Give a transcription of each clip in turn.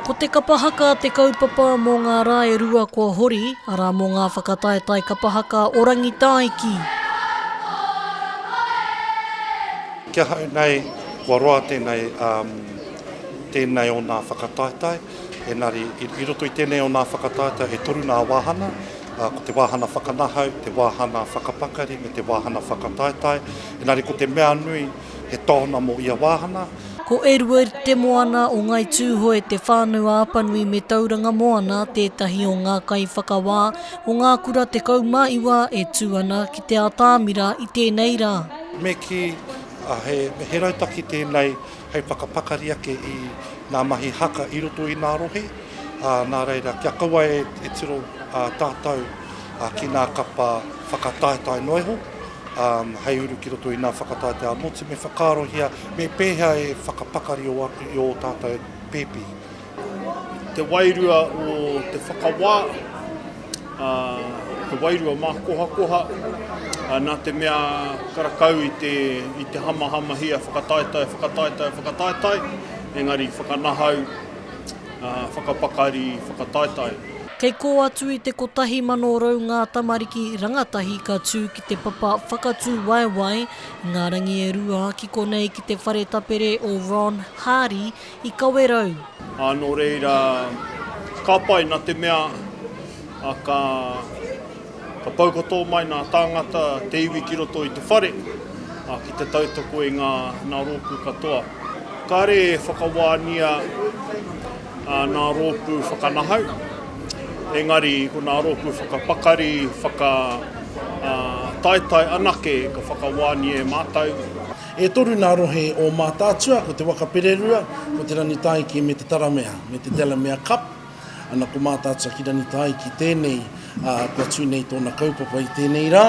Ko te kapa haka te kaupapa mō ngā rā e rua kua hori, arā mō ngā whakataetae kapa haka o Rangitāiki. Ki ahau nei, kua roa tēnei, tēnei o nā whakataetae, engari i roto i tēnei o nā whakataetae e toru nā wāhana, ko te wāhana whakanahau, te wāhana whakapakari me te wāhana whakataetae, engari ko te mea nui, he tāona mō ia wāhanga. Ko Edward Te Moana o Ngai Tūhoe Te Whānau a Apanui me Tauranga Moana tētahi o ngā kaiwhakawā o ngā kura 19 e tū ana ki te atāmira i tēnei rā. Me kī, he rautaki tēnei hei whakapakari ake i ngā mahi haka i roto i ngā rohe, nā reira, kia kaua e tiro tātou ki ngā kapa whakataetae noa iho. hei uru ki roto i nā whakataetae ā-motu, me whakaarohia me pēhea e whakapakari atu i ō tātou pēpi. Te wairua o te whakawā, te wairua mākohakoha, nā te mea karakau i te, i te hamahamahia whakataetae, whakataetae, whakataetae, engari whakanahau whakapakari, whakataetae. Kei kō atu i te kotahi mano rau ngā tamariki rangatahi ka tū ki te papa whakatūwaewae Ngā Rangi e Rua ki konei ki te whare tapere o Ron Hardy i Kawerau. Ā, nō reira, ka pai, nā te mea, ā, ka. Ka taukatō mai nā tāngata te iwi ki roto i te whare ki te tautoko i ngā nā rōpū katoa. Kāre e whakawānia nā rōpū whakanahau, engari ko nā rōpū whakapakari, whakataetae anake ka whakawānia e mātou. E toru nā rohe o Mātaatua, ko te Waka Pererua, ko te Rangitāiki me te Taramea, me te Delamere Cup. Ana ko Mātātuaki Rangitāi ki tēnei, ā, kua tū nei tōna kaupapa i tēnei rā,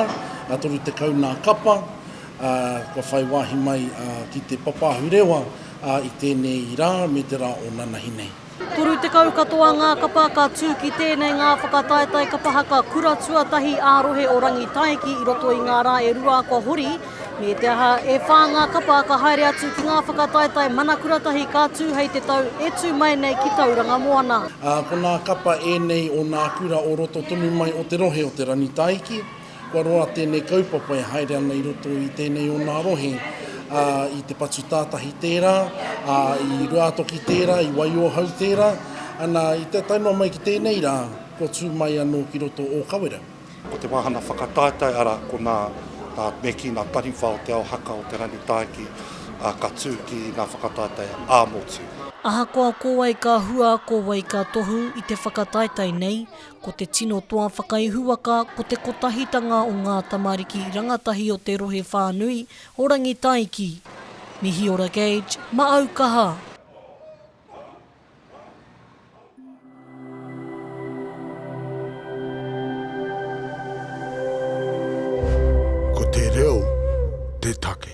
ā, 30 nā kapa, ā, kua whai wāhi mai, ā, ki te papa ahurewa, ā, i tēnei rā me te rā o nanahi nei. 30 katoa ngā kapa ka tū ki tēnei ngā whakataetae kapa haka kura tuatahi ā-rohe o Rangitāiki i roto i ngā rā e rua kua hori, Me te aha, e whā ngā kapa ka haere atu ki ngā whakataetae mana kura tahi ka tū hei te tau e tū mai nei ki Tauranga Moana. Ā, ko nā kapa ēnei o nā kura o roto tonu mai o te rohe o Te Rangitaiki. Kua roa tēnei kaupapa e haere ana i roto i tēnei o nā rohe, ā, i Te Patu Tātahi tērā, ā, i Ruātoki tērā, i Waiohau tērā, ana, i te tae noa mai ki tēnei rā, kua tū mai anō ki roto o Kawerau. Ko te wāhanga whakataetae arā, ko nā Meki, nā Taniwha o Te Ao Haka o Te Rangi Tāiki, ā, ka tū ki ngā whakataetae ā-motu. Ahakoa ko wai ka hua, ko wai ka tohu i te whakataetae nei, ko te tino toa whakaihuwaka ko te kotahitanga o ngā tamariki rangatahi o te rohe whānui o Rangitāiki. Mihiora Gage, Maau Kaha! Ko te reo te take.